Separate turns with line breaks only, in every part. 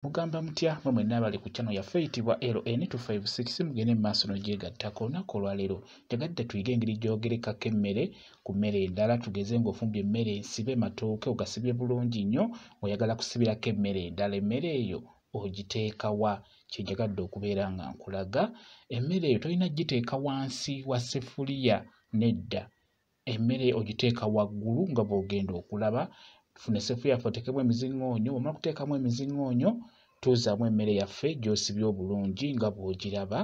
mugamba mutya mwe mwenna abali ku channel yaffe eyitibwa LN256 mugende mu maaso n'ogyegattako olunaku olwaleero njagadde tuyige engeri gy'ogerekako emmere ku mmere endala tugeze ng'ofumbye emmere ensibe matooke ogasibye bulungi nnyo ng'oyagala kusibirako emmere endala emmere eyo ogiteekawa kyenjagadde okubeera nga nkulaga emmere eyo tolina giteeka wansi wa sefuliya nedda emmere ogiteeka waggulu nga bw'ogenda okulaba tufuna esefu yaffe oteekemu emizingoonyo omala okuteekamu emizingoonyo tuuzaamu emmere yaffe gy'osibye obulungi nga bw'ogiraba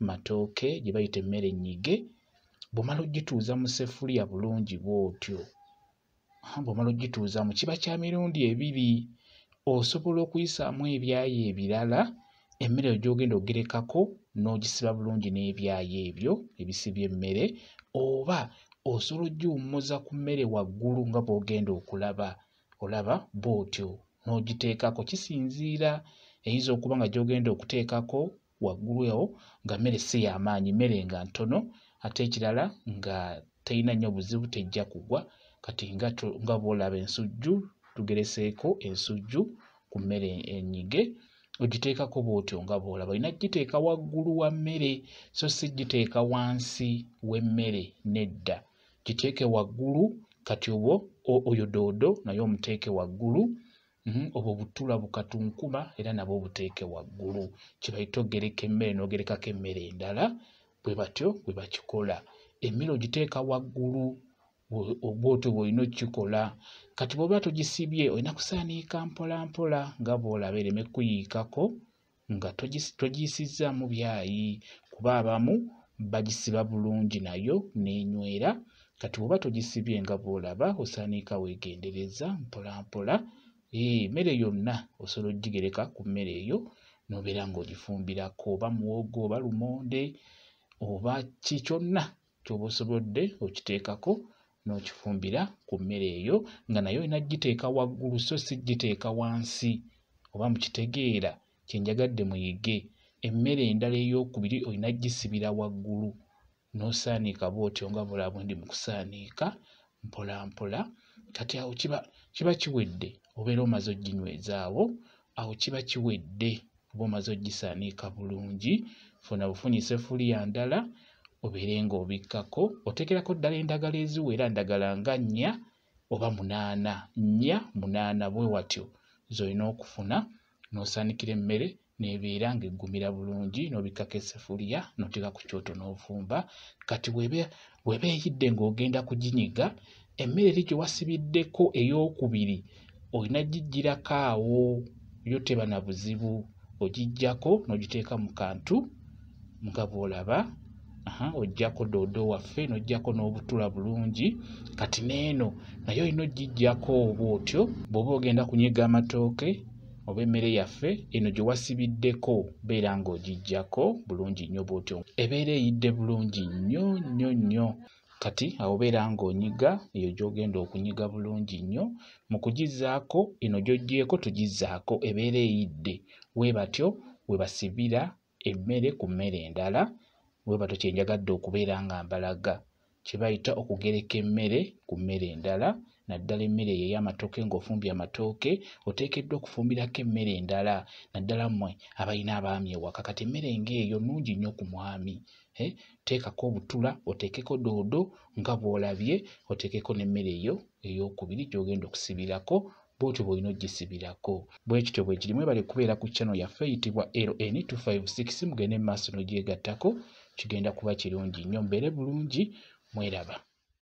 matooke gye bayita emmere ennyige bw'omala ogituuza mu sefuliya bulungi bw'otyo bw'omala ogituuzamu kiba kya mirundi ebiri osobola okuyisaamu ebyayi ebirala emmere eyo gy'ogenda ogerekako n'ogisiba bulungi n'ebyayo ebyo ebisibye emmere oba osobola ogiwummuza ku mmere waggulu nga bw'ogenda okulaba olaba bw'otyo n'ogiteekako kisinziira eyinza okuba nga gy'ogenda okuteekako waggulu ewo nga mmere si y'amaanyi mmere nga ntono ate ekirala nga terina nnyo buzibu tejja kugwa kati nga bw'olaba ensujju tugereseeko ensujju ku mmere enyige ogiteekako bw'otyo nga bw'olaba olina kugiteeka waggulu wa mmere so si giteeka wansi w'emmere nedda giteeke waggulu kati obwo oyo doodo naye omuteeke waggulu mhm, obwo butula bukatunkuma era nabwo obuteeke waggulu kyebayita ogereka emmere n'ogerekako emmere endala bwe batyo bwe bakikola emmere ogiteeka waggulu bwotyo bwolina okukikola kati bwoba togisibye olina kusaaniika mpolampola nga bwolaba ereme kuyiikako nga togiyisizzaamu byayi kuba abamu bagisiba bulungi nayo n'enywera kati bwoba togisibye nga bwolaba osaaniika weegendereza mpolampola emmere yonna osobola okugigereka ku mmere eyo n'obeera ng'ogifumbirako oba muwogo oba lumonde oba ki kyonna kyoba osobodde okiteekako n'okifumbira ku mmere eyo nga naye olina kugiteeka waggulu so si kugiteeka wansi oba mukitegeera kye njagadde muyige emmere endala ey'okubiri olina kugisibira waggulu n'osaaniika bw'otyo nga bulabwe ndi mu kusaaniika mpolampola kati awo kiba kiba kiwedde obeera omaze oginywezaawo awo kiba kiwedde oba omaze ogisaniika bulungi funa bufunyi sefuliya ndala obeere ng'obikkako oteekerako ddala endagala eziwera ndagala nga nnya oba munaana nnya munaana bwe watyo z'olina okufuna n'osaanikira emmere nebeera ng'eggumira bulungi n'obikkako esefuliya n'oteeka ku kyoto n'ovumba kati weba eyidde ng'ogenda kuginyiga emmere eri gye wasibiddeko ey'okubiri olina giggyirako awo yo teba na buzibu ogiggyako n'ogiteeka mu kantu nga bw'olaba oggyako doodo waffe n'oggyako n'obutula bulungi kati n'eno naye olina ogiggyako oba otyo bw'oba ogenda kunyiga amatooke oba emmere yaffe eno gye wasibiddeko beera ng'ogiggyako bulungi nnyo bw'otyo ebeera eyidde bulungi nnyo nnyo nnyo kati awo beera ng'onyiga eyo gy'ogenda okunyiga bulungi nnyo mu kugizzaako eno gy'oggyeeko tugizzaako ebeera eyidde we batyo we basibira emmere ku mmere endala we batyo kye njagadde okubeera nga mbalaga kye bayita okugereka emmere ku mmere endala naddala emmere eyo ey'amatooke ng'ofumbye amatooke oteekeddwa okufumbirako emmere endala naddala mmwe abalina abaami ewaka kati emmere ng'eyo nnungi nnyo ku mwami eh, teekako obutula oteekeko doodo nga bw'olabye oteekeko n'emmere eyo ey'okubiri gy'ogenda okusibirako bwotyo bwolina ogisibirako bwekityo bwekiri mwebale kubeera ku chano yaffe eyitibwa ln 256 mugende mu maaso nogyegattako kigenda kuba kirungi nnyo mbeere bulungi mweraba